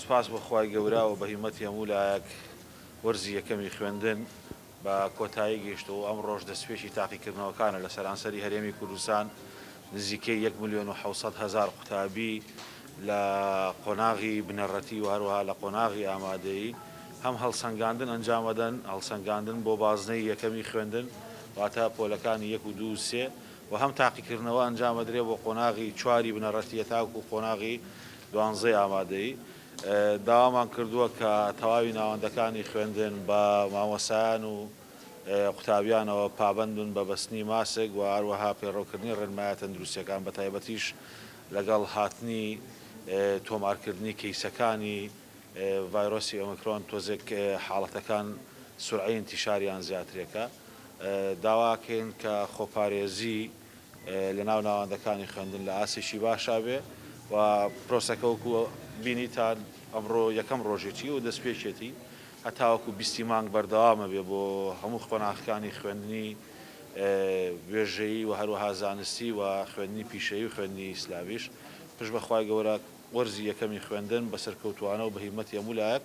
سوپاس بۆ خوای گەورە و بە هیمەتی هەموو لایەک وەرزی یەکەمی خوێندن بە کۆتایی گەیشتەوە و ئەمڕۆش دەستپێکی تاقیکردنەوەکانە لە سەرانسەری هەرێمی کوردستان نزیکەی یەک ملیۆن و حەوت سەد هەزار قوتابی لە قۆناغی بنەڕەتی و هەروەها لە قۆناغی ئامادەیی هەم هەڵسەنگاندن ئەنجام ئەدەن هەڵسەنگاندن بۆ بازنەی یەکەمی خوێندن واتە پۆلەکانی یەک و دوو و سێ و هەم تاقیکردنەوە ئەنجام ئەدرێ بۆ قۆناغی چواری بنەڕەتییە تاوەکو قۆناغی دوانزەی ئامادەیی، داوامان کردووە کە تەواوی ناوەندەکانی خوێندن بە مامۆستایان و قوتابیانەوە پابەند بن بە بەستنی ماسک و هەروەها پەیڕەوکردنی ڕێنمایە تەندروستییەکان بەتایبەتیش لەگەڵ هاتنی تۆمارکردنی کەیسەکانی ڤایرۆسی ئۆمیکرۆن تۆزێک حاڵەتەکان سورعەی ئینتیشاریان زیاترێکە داواکەین کە خۆپارێزی لەناو ناوەندەکانی خوێندن لە ئاستێکی باشا بێ و پرۆسەکە وەکو بینیتان ئەمڕۆ یەکەم ڕۆژێتی و دەستپێکێتی هەتاوەکو بیستی مانگ بەردەوامە بێ بۆ هەموو قۆناخەکانی خوێندنی وێژەیی و هەروەها زانستی و خوێندنی پیشەیی و خوێندنی ئیسلامیش پشت بەخوای گەورە وەرزی یەکەمی خوێندن بە سەرکەوتوانە و بە هیمەتی هەموو لایەک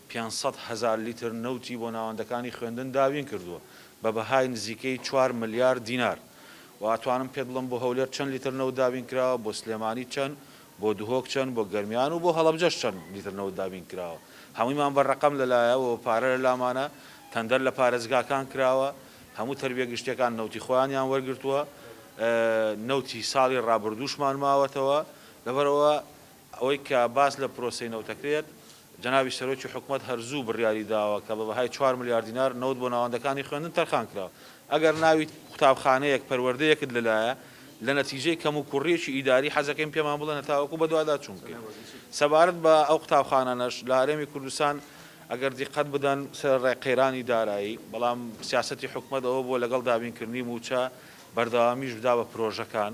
پێنج سەد هەزار لیتر نەوتی بۆ ناوەندەکانی خوێندن دابین کردووە بە بەهای نزیکەی چوار ملیار دینار و ئەتوانم پێت بڵێم بۆ هەولێر چەند لیتر نەوت دابین کراوە، بۆ سلێمانی چەند، بۆ دهۆک چەند، بۆ گەرمیان و بۆ هەڵەبجەش چەند لیتر نەوت دابین کراوە، هەموویمان بە رەقەم لە لایەوەوە پارە لە لامانە، تەندەر لە پارێزگاکان کراوە، هەموو تەربیە گشتیەکان نەوتی خۆیانیان وەرگرتووە، نەوتی ساڵی رابردووشمان ماوەتەوە، لەبەرئەوە ئەوەی کە باس لە پرۆسەی نەوت دەکرێت، جەنابی سەرۆکی حکومەت هەر زوو بڕیاری داوە کە بە بەهای چوار ملیار دینار نەوت بۆ ناوەندەکانی خوێندن تەرخان کراوە. ئەگەر ناوی قوتابخانەیەک، پەروەردەیەکت لەلایە، لە نەتیجەی کەموکوڕییەکی ئیداری، حەزەکەین پێمان بڵێن هەتاوەکو بەدواداچوون بکەین. سەبارەت بە ئەو قوتابخانانەش، لە هەرێمی کوردستان ئەگەر دیقەت بدەن سەرەڕای قەیرانی دارایی، بەڵام سیاسەتی حکومەت ئەوە بووە لەگەڵ دابینکردنی مووچە، بەردەوامیش بدا بە پرۆژەکان.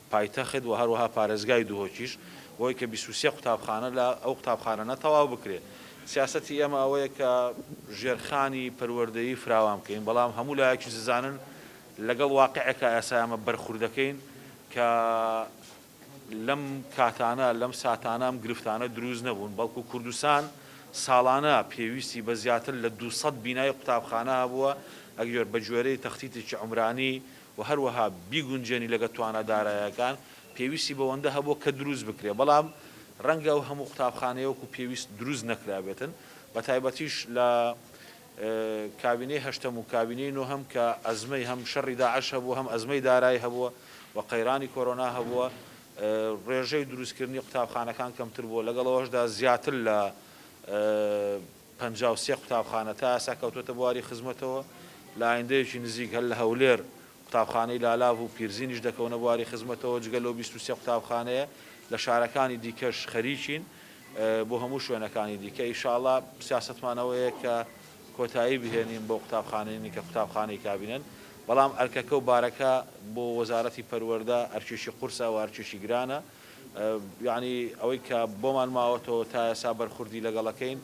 پایتەخت و هەروەها پارێزگای دهۆکیش بۆی کە بیست و سێ قوتابخانە لە ئەو قوتابخانەنە تەواو بکرێ سیاسەتی ئێمە ئەوەیە کە ژێرخانی پەروەردەیی فراوان بکەین بەڵام هەموو لایەکیش دەزانن لەگەڵ واقعێکا ئێسا ئێمە بەرخوردەکەین کە لەم کاتانە لەم ساتانە ئەم گرفتانە دروست نەبوون بەڵکو کوردستان ساڵانە پێویستی بە زیاتر لە دوو سەد بینای قوتابخانە هەبووە ئەگیۆر بە گوێرەی تەختیتێکی عومرانی و هەروەها بیگونجێنی لەگەڵ توانا دارایەکان، پێویستی بەوەندە هەبووە کە دروست بکرێت، بەڵام ڕەنگە ئەو هەموو قوتابخانەیە وەکو پێویست دروست نەکرابێتن، بەتایبەتیش لە کابینەی هەشتەم و کابینەی نۆهەم کە ئەزمەی هەم شەڕی داعش هەبووە، هەم ئەزمەی دارای هەبووە و قەیرانی کۆرۆنا هەبووە، ڕێژەی دروستکردنی قوتابخانەکان کەمتر بووە، لەگەڵ ئەوەشدا زیاتر لە. پەنجا و سێ قوتابخانە تا ئێستا کەوتۆتە بواری خزمەتەوە، لە ئایندەیەکی نزیک هەر لە هەولێر قوتابخانەی لالاڤ و پیرزینیش دەکەونە بواری خزمەتەوە، جگە لەو بیست و سێ قوتابخانەیە لە شارەکانی دیکەش خەریکین بۆ هەموو شوێنەکانی دیکە، ئیشاڵا سیاسەتمان ئەوەیە کە کۆتایی بهێنین بەو قوتابخانەنی کە قوتابخانەی کابینەن، بەڵام ئەرکەکە و بارەکە بۆ وەزارەتی پەروەردە ئەرکێکی قورسە و ئەرکێکی گرانە. یەعنی ئەوەی کە بۆمان ماوەتەوە تا ئێسا بەرخوردی لەگەڵەکەین،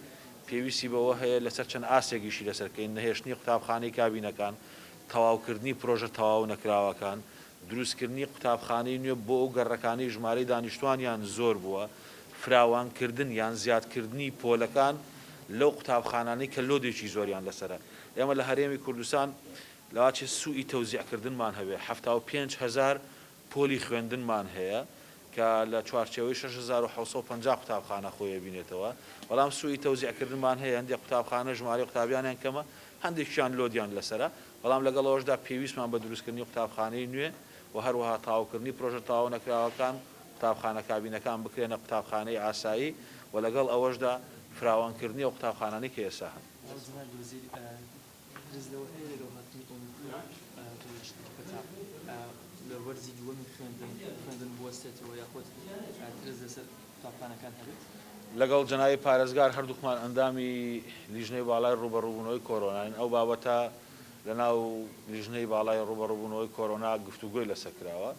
پێویستی بەوە هەیە لەسەر چەند ئاستێک ئیشی لەسەر بکەین، نەهێشتنی قوتابخانەی کابینەکان، تەواوکردنی پرۆژە تەواو نەکراوەکان، دروستکردنی قوتابخانەی نوێ بۆ ئەو گەڕەکانەی ژمارەی دانیشتووانیان زۆر بووە، فراوانکردن یان زیادکردنی پۆلەکان لەو قوتابخانانەی کە لۆدێکی زۆریان لەسەرە. ئێمە لە هەرێمی کوردستان لەوەچێ سووی تەوزیعکردنمان هەبێ حەفتا و پێنج هەزار پۆلی خوێندنمان هەیە کە لە چوارچێوەی شەش هەزار و حەوت سەد و پەنجا قوتابخانە خۆی ئەبینێتەوە، بەڵام سووی تەوزیعکردنمان هەیە، هەندێک قوتابخانە ژمارەی قوتابیانیان کەمە، هەندێکیان لۆدیان لەسەرە، بەڵام لەگەڵ ئەوەشدا پێویستمان بە دروستکردنی قوتابخانەی نوێ و هەروەها تەواوکردنی پرۆژە تەواونەکراوەکان، قوتابخانە کابینەکان بکرێنە قوتابخانەی ئاسایی و لەگەڵ ئەوەشدا فراوانکردنی ئەو قوتابخانانەی کە ئێستا هەن. لەگەڵ جەنابی پارێزگار هەردووکمان ئەندامی لیژنەی باڵای ڕووبەڕووبوونەوەی کۆرۆناین، ئەو بابەتە لەناو لیژنەی باڵای ڕووبەڕووبوونەوەی کۆرۆنا گفتوگۆی لەسەر کراوە.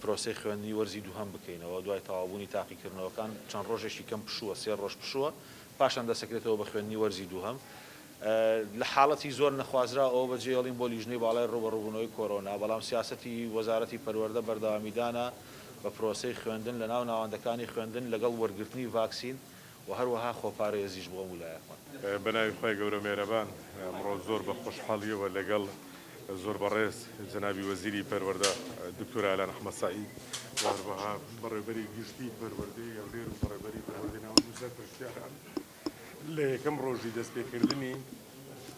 پرۆسەی خوێندنی وەرزی دووهەم بکەینەوە، دوای تەواوبوونی تاقیکردنەوەکان چەند رۆژێکی کەم پشووە، سێ رۆژ پشووە، پاشان دەسەکرێتەوە بە خوێندنی وەرزی دووهەم. لە حاڵەتی زۆر نەخوازراو ئەوە بەجێهێڵین بۆ لیژنەی باڵای رووبەڕووبوونەوەی کۆرۆنا، بەڵام سیاسەتی وەزارەتی پەروەردە بەردەوامیدانە بە پرۆسەی خوێندن لەناو ناوەندەکانی خوێندن لەگەڵ وەرگرتنی ڤاکسین و هەروەها خۆپارێزیش بۆ ئەمو لایە خۆن. بەناوی خوای گەورە مێرەبان ئەمڕۆ زۆر بە خۆشحاڵیەوە لەگەڵ زۆر بەڕێز جەنابی وەزیری پەروەردە دکتۆر ئالان احمد سعید و هەروەها بەڕێوبەری گشتی پەروەردەی هەولێر و بەڕێوبەری پەروەردەی ناوەندی سەرپەرشتیاران لە یەکەم ڕۆژی دەستپێکردنی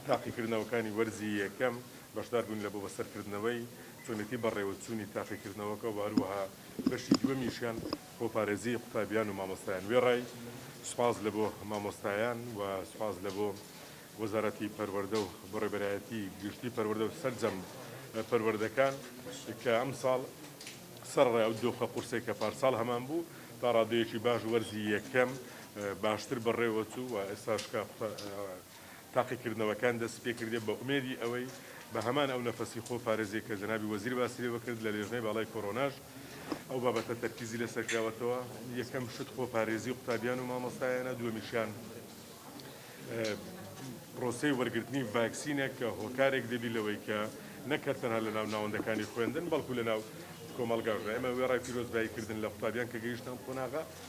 تاقیکردنەوەکانی وەرزی یەکەم بەشدار بووین لە بۆ بەسەرکردنەوەی چۆنێتی بەڕێوەچوونی تاقیکردنەوەکە و هەروەها بەشی دووەمیشیان بۆ پارێزی قوتابیان و مامۆستایان وێڕای سوپاس لە بۆ مامۆستایان و سوپاس لە بۆ وەزارەتی پەروەردە و بۆ ڕێبەرایەتی گشتی پەروەردە و سەرجەم پەروەردەکان کە ئەم ساڵ سەرڕێ ئەو دۆخە قورسێک کە پارساڵ هەمان بوو تا ڕادەیەکی باش وەرزی یەکەم باشتر بەڕێوەچوو و ئێستاشکە تاقیکردنەوەکان دەستی پێکردیە بە ئومێدی ئەوەی بە هەمان ئەو نەفەسی خۆ پارێزیە کە جەنابی وەزیر باسی لێوە کرد لە لێژنەی باڵای کۆرۆناش ئەو بابەتە تەرکیزی لەسەر کراوەتەوە یەکەم شت خۆ پارێزی قوتابیان و مامۆستایانە دووەمیشیان پرۆسەی وەرگرتنی ڤاکسینە کە هۆکارێک دەبی لەوەی کە نەکرد تەنها لە ناو ناوەندەکانی خوێندن بەڵکو لە ناو کۆمەڵگاش ئێمە وێڕای پیرۆزبایی کردن لە قوتابیان کە گەیشتن قۆناغە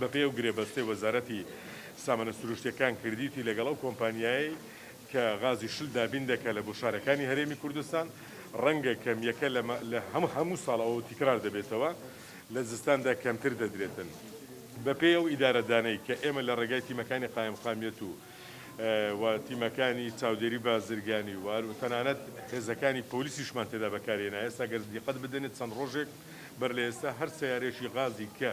بەپێی ئەو گرێبەستەی وەزارەتی سامانە سروشتییەکان کردیتی لەگەڵ ئەو کۆمپانیایەی کە غازی شل دابین دەکات لە بۆ شارەکانی هەرێمی کوردستان ڕەنگە کەمییەکە لە لە هەموو ساڵەوە تیکرار دەبێتەوە لە زستاندا کەمتر دەدرێتن بەپێی ئەو ئیدارەدانەی کە ئێمە لە ڕێگای تیمەکانی قایمقامیەت و و تیمەکانی چاودێری بازرگانی و و تەنانەت هێزەکانی پۆلیسیشمان تێدا بەکارهێنا ئێستا گەر دیقەت بدەنێت چەند ڕۆژێک بەر لە ئێستا هەر سەیارەیەکی غازی کە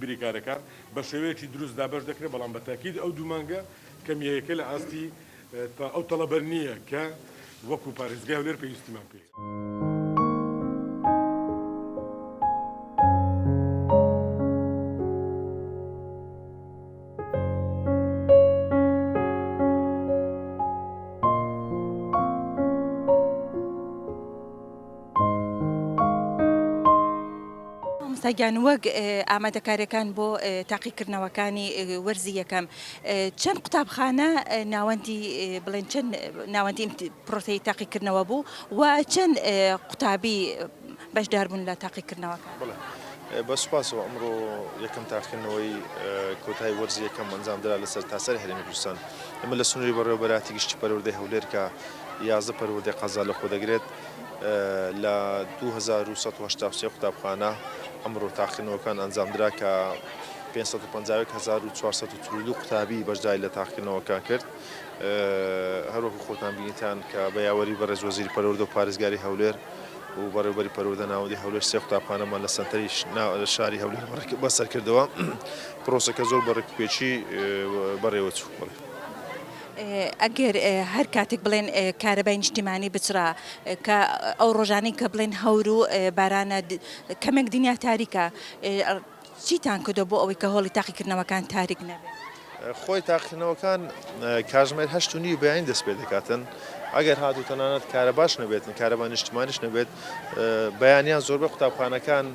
بریکارەکان بە شێوەیەکی دروست دابەش دەکرێت، بەڵام بە تاکید ئەو دوو مانگە کەمیەیەکە لە ئاستی تا ئەو تەڵەبە نییە کە وەکو پارێزگای هەولێر پێویستیمان پێیە. مامۆستاگیان وەک ئامادەکاریەکان بۆ تاقیکردنەوەکانی وەرزی یەکەم چەند قوتابخانە ناوەندی بڵێن چەند ناوەندی پرۆسی تاقیکردنەوە بوو و چەند قوتابی بەشداربوون لە تاقیکردنەوەکە. بە سوپاسەوە ئەمڕۆ یەکەم تاقیکردنەوەی کۆتای وەرزی یەکەم ئەنجام درا لەسەر تاسەر هەرێمی کوردستان ئەمە لە سنووری بەڕێوەبەراتی گشتی پەروەردەی هەولێرکە یازدە پەروەردەی قەزا لەخۆ دەگرێت لە دوو هەزار و سەد و هەشتا و سێ قوتابخانە ئەمڕۆ تاقیکردنەوەکان ئەنجامدرا کە پێنج سەد و پەنجا و یەک هەزار و چوار سەد و چل و دوو قوتابی بەشداری لە تاقیکردنەوەکان کرد هەروەکو خۆتان بینیتان کە بە یاوەری بەڕێز وەزیری پەروەردە و پارێزگاری هەولێر و بەڕێوبەری پەروەردە ناوەندی هەولێر سێ قوتابخانەمان لە سەنتەری شاری هەولێر بەسەرکردەوە پرۆسەکە زۆر بە ڕێکوپێکی بەڕێوەچوو. ئەگەر هەر کاتێک بڵێن کارەبای نیشتیمانی بچڕا کە ئەو ڕۆژانەی کە بڵێن هەور و بارانە کەمێک دنیا تاریکە چیتان کردو بۆ ئەوەی کە هۆڵی تاقیکردنەوەکان تاریک نەبێت؟ خۆی تاقیکردنەوەکان کاژمێر هەشت و نیوی بەیانی دەست پێ دەکاتن ئەگەر هاتوو تەنانەت کارەباش نەبێتن کارەبا نیشتمانیش نەبێت بەیانیان زۆربەی قوتابخانەکان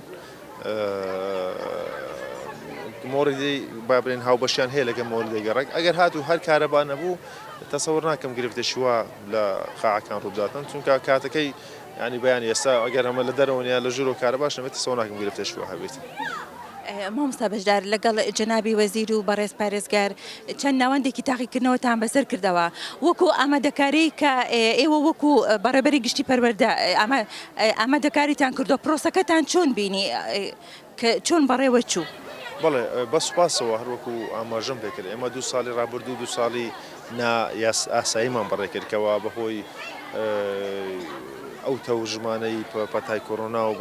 مۆردی با بڵێن هاوبەشیان هەیە لەگەڵ مۆردی گەڕەک ئەگەر هاتوو هەر کارەبا نەبوو تەسەوەر ناکەم گرفتێکی وا لە قاعەکان ڕووداتن چونکە کاتەکەی ینی بەیان ئێستا ئەگەر ئەمە لە دەرەوەنیا لە ژورۆ کارە باش نەبێت تەسەوە ناکەم گرفتێکی وا هەبێت. مامۆستا بەشدار لەگەڵ جەنابی وەزیر و بەڕێز پارێزگار چەند ناوەندێکی تاقیکردنەوەتان بەسەر کردەوە وەکو ئامادەکاری کە ئێوە وەکو بەڕێبەری گشتی پەروەردە ئامە ئامادەکاریتان کردووە پرۆسەکەتان چۆن بینی کە چۆن بەڕێوە چوو؟ بەڵێ بە سوپاسەوە هەروەکو ئاماژەم پێکرد ئێمە دوو ساڵی ڕابردوو دوو ساڵی نا ئاساییمان بەڕێ کرد کەوا بەهۆی ئەو تەوژمانەی پەتای کۆرۆنا و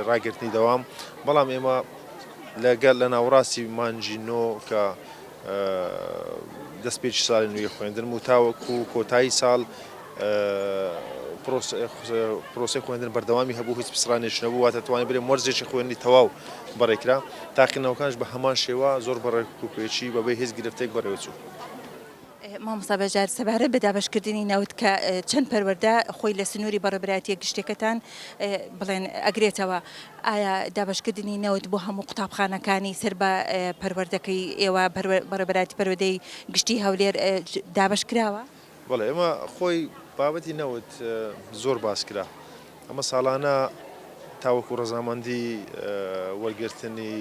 ڕاگرتنی دەوام بەڵام ئێمە لەگەڵ لە ناوەڕاستی مانجی نۆ کە دەستپێکی ساڵی نوێی خوێندنم و تاوەکو کۆتایی ساڵ پرۆسەی خوێندن بەردەوامی هەبوو هیچ پسڕانێش نەبوو واتە توانێت برێ مەرزێکی خوێنی تەواو بەڕێکرا تاقینەوەکانش بە هەمان شێوە زۆر بەڕێک و پێچی بەبێ هیچ گرفتێک بەڕێوچوو. مامۆستا بەژار سەبارەت بە دابەشکردنی نەوت کە چەند پەروەردە خۆی لە سنووری بەڕێبەرایەتیە گشتیەکەتان بڵێن ئەگرێتەوە ئایا دابەشکردنی نەوت بۆ هەموو قوتابخانەکانی سەر بە پەروەردەکەی ئێوە بەڕێوەبەرایەتی پەروەردەی گشتی هەولێر دابەش کراوە؟ بەڵێ ئەمە خۆی بابەتی نەوت زۆر باس کرا ئەمە ساڵانە تاوەکو ڕەزامەندی وەرگرتنی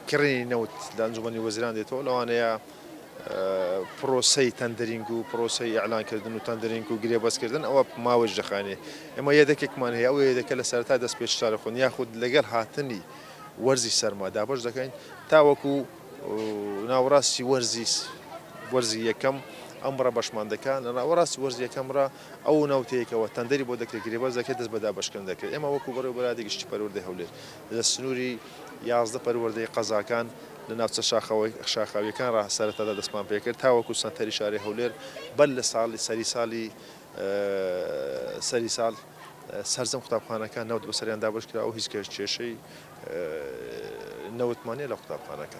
کڕینی نەوت لە ئەنجومەنی وەزیران دێتەوە لەوانەیە پرۆسەی تەندرینگ و پرۆسەی ئیعلانکردن و تەندرینگ و گرێبەستکردن ئەوە ماوەش دەخایەنێ. ئێمە یەدەکێکمان هەیە، ئەو یەدەکە لە سەرەتای دەست پێچتارخۆن یاخود لەگەل هاتنی وەرزی سەرما دابەش دەکەین تاوەکو ناوەراستی وەرزی وەرزی یەکەم ئەم ڕە بەشمان دەکا لە ناوەراستی وەرزی یەکەم ڕا ئەو ناوتەیەکەوە تەندەری بۆ دەکرێ گرێبەست دەکرێ دەست بە دابەشکردن دەکرێ ئێمە وەکو بەڕێوەبەرایەتی گشتی پەروەردەی هەولێر لە سنووری یازدە پەروەردەی قەزاکان لە ناوچە شاخاوییەکان ڕا سەرەتادا دەستمان پێ کرد تاوەکوو سەنتەری شاری هەولێر بەر لە ساڵی سەری سالی سەری سال سەرجەم قوتابخانەکان نەوت بەسەریان دابەش کرا و هیچ کێشەی نەوتمان نیە لە قوتابخانەکە.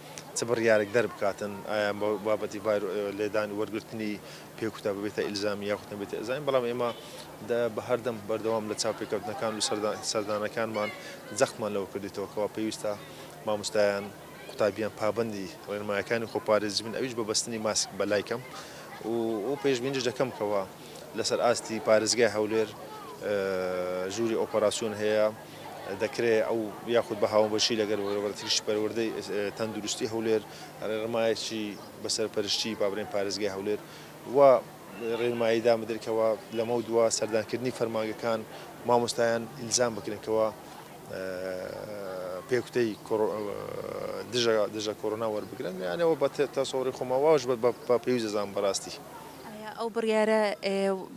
چ بڕیارێک دەربکاتن، ئایا ئەم بابەتی بایرۆ لێدان و وەرگرتنی پێ کوتا ببێتە ئیلزامی یاخود نەبێتە ئیلزامی، بەڵام ئێمە بە هەردەم بەردەوام لە چاوپێکەوتنەکان و سەردانەکانمان جەختمان لەوە کردیتەوە کەوا پێویستە ماموستایان، قوتابیان پابەندی ڕێنمایەکانی خۆپارێزی بن ئەویش بە بەستنی ماسک بە لای کەم و پێشبینیش دەکەم کەوا لەسەر ئاستی پارێزگای هەولێر ژووری ئۆپەراسیۆن هەیە، دەکرێت ئەو یاخود بە هاوبەشی لەگەل وەرەبەرتریشی پەروەردەی تەندروستی هەولێر رێڕمایەکی بە سەرپەرشتی بابرین پارێزگای هەولێر وا رێنمایی دان بدرێت کەوا لەمەو دوا سەردانکردنی فەرمانگەکان مامۆستایان ئیلزام بکرێن کەوا پێکوتەی دژە کۆرۆنا وەربگرن یانەوە بە تەسەوری خۆما واش بە پێویست دەزانم بەراستی. ئایا ئەو بڕیارە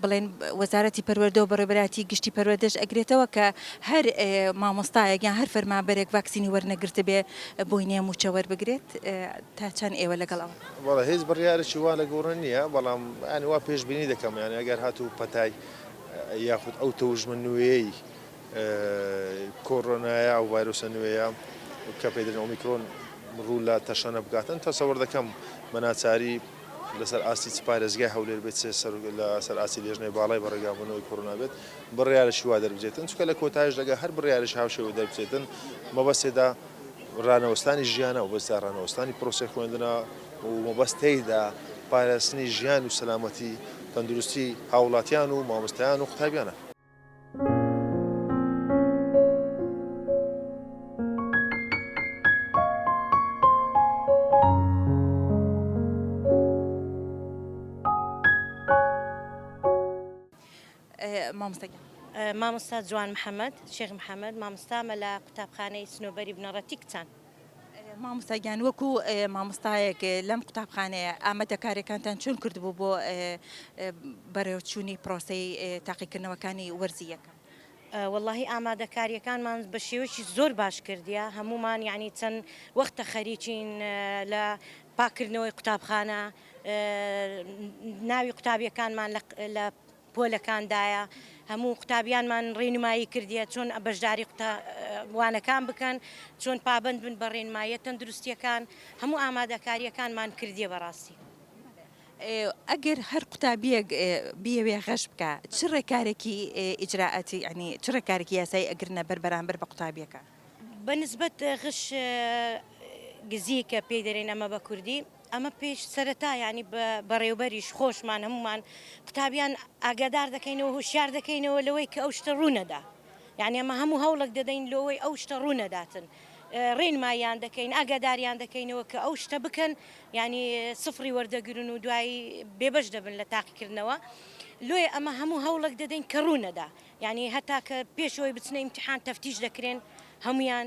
بڵێن وەزارەتی پەروەردە و بەڕێوەبەرایەتی گشتی پەروەردەش ئەگرێتەوە کە هەر مامۆستایەک یان هەر فەرمانبەرێک ڤاکسینی وەرنەگرتبێ بۆی نییە مووچە وەربگرێت تا چەند ئێوە لەگەڵ ئەوە؟ وەڵا هیچ بڕیارێکی وا لە گۆڕێ نییە بەڵام یانی وا پێشبینی دەکەم یانی ئەگەر هاتوو پەتای یاخود ئەو تەوژمە نوێیەی کۆرۆنایە ئەو ڤایرۆسە نوێیە کە پێی دەلێن ئۆمیکرۆن ڕوو لە تەشەنە بکاتن تەسەوەر دەکەم بە ناچاری لەسەر ئاستی چ پارێزگای هەولێر بێت چ لە سەر ئاستی لێژنەی باڵای بە ڕێگابوونەوەی کۆرۆنا بێت بڕیارێکی وا دەربچێتن چکە لە کۆتایش دەگە هەر بڕیارێکی هاوشێوە دەربچێتن مەبەست تێدا ڕانەوەستانی ژیانە و بەستا ڕانەوەستانی پرۆسەی خوێندنە و مەبەست تێیدا پاراستنی ژیان و سەلامەتی تەندروستی هاوڵاتیان و مامۆستایان و قوتابیانە. مامۆستا جوان محەمەد شێخ محەمەد مامۆستامە لە قوتابخانەی سنۆبەری بنەڕەتی کچان. مامۆستا گیان وەکو مامۆستایەک لەم قوتابخانەیە ئامادەکاریەکانتان چۆن کردبوو بۆ بەرەوچوونی پرۆسەی تاقیکردنەوەکانی وەرزی یەکەم؟ وەڵاهی ئامادەکاریەکانمان بە شێوەیەکی زۆر باش کردیە هەموومان یانی چەند وەختە خەریکین لە پاککردنەوەی قوتابخانە ناوی قوتابیەکانمان لە پۆلەکاندایە هەموو قوتابیانمان ڕێنمایی کردیە چۆن بەشداری وانەکان بکەن چۆن پابەند بن بە ڕێنماییە تەندروستیەکان هەموو ئامادەکاریەکانمان کردیە بەڕاستی. ئەگەر هەر قوتابیەک بیەوێ غەش بکا چ ڕێکارێکی ئیجرائاتی یانی چ ڕێکارێکی یاسایی ئەگرنە بەر بەرامبەر بە قوتابیەکان؟ بە نسبەت غش گزی کە پێی دەرێن ئەمە بە کوردی. ئەمە پێش سەرەتا یانی بە بەڕێوبەریش خۆشمان هەموومان قوتابیان ئاگادار دەکەینەوە هوشیار دەکەینەوە لەوەی کە ئەو شتە ڕوونەدا یعنی ئەمە هەموو هەوڵک دەدەین لۆوەی ئەو شتە ڕوونەداتن ڕێنمایان دەکەین ئاگاداریان دەکەینەوە کە ئەو شتە بکەن ینی سفری وەردەگرن و دوایی بێبش دەبن لە تاقیکردنەوە لۆیە ئەمە هەموو هەوڵک دەدەین کە ڕوونەدا ینی هەتا کە پێشەوەی بچنە ئیمتحان تەفتیش دەکرێن هەمویان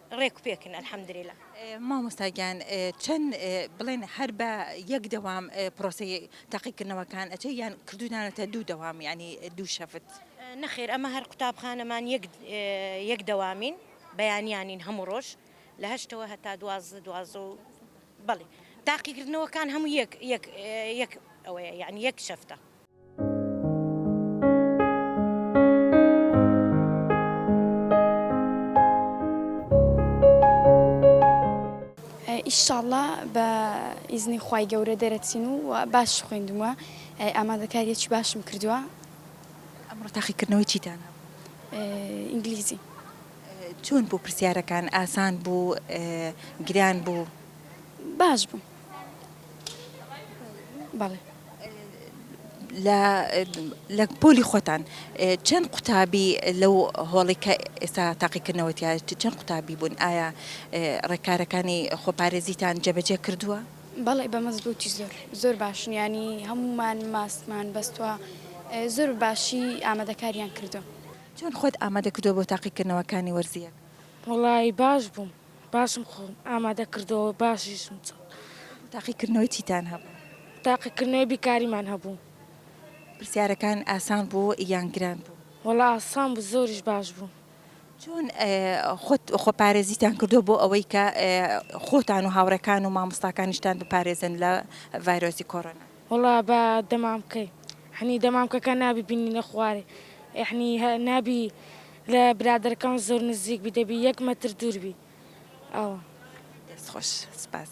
ڕێک و پێکن الحمدللە. مامۆستا گیان چەند بڵێن هەر بە یەک دەوام پرۆسەی تاقیکردنەوەکان ئەچێ یان کردوونانەتە دوو دەوام یعنی دوو شەفت؟ نەخێر ئەمە هەر قوتابخانەمان یەک یەک دەوامین بەیانیانین هەموو ڕۆژ لە هەشتەوە هەتا دوازدە دوازدە و بەڵێ تاقیکردنەوەکان هەموو یەک یەک یەک ئەوەیە یعنی یەک شەفتە. ئیشاءاللە بە ئیزنی خوای گەورە دەرەچین و باش خوێندومە ئامادەکاریەکی باشم کردووە ئەمڕۆ تاقیکردنەوەی چیتان ئینگلیزی چۆن بوو پرسیارەکان ئاسان بوو گران بوو باش بوو بەڵێ لە پۆلی خۆتان چەند قوتابی لەو هۆڵی کە ئێستا تاقیکردنەوەتیا چەند قوتابی بوون ئایا ڕێکارەکانی خۆپارێزیتان جێبەجێ کردووە؟ بەڵێ بە مەزبوتی زۆر زۆر باشنیانی هەمومان ماسمان بەستوە زۆر باشی ئامادەکاریان کردو. چۆن خۆت ئامادە کردووە بۆ تاقیکردنەوەکانی وەرزییەکە؟ وەڵایی باش بووم. باشم خۆم ئامادە کردەوە باشیشم چوو. تاقیکردنەوەی چیتان هەبوو؟ تاقیکردنەوەی بیرکاریمان هەبوو. پرسیارەکان ئاسان بوو یان گران بوو؟ وەڵا ئاسان بوو زۆریش باش بوو. چۆن خۆت خۆپارێزیتان کردووە بۆ ئەوەی کە خۆتان و هاوڕێکان و مامۆستاکانیشتان بپارێزن لە ڤایرۆسی کۆرۆنا؟ وەڵا بە دەمامکەی یەعنی دەمامکەکە نابی بینینە خوارێ یەعنی نابی لە برادەرەکان زۆر نزیک بی دەبی یەک مەتر دوور بی ئەوە. دەست خۆش سپاس.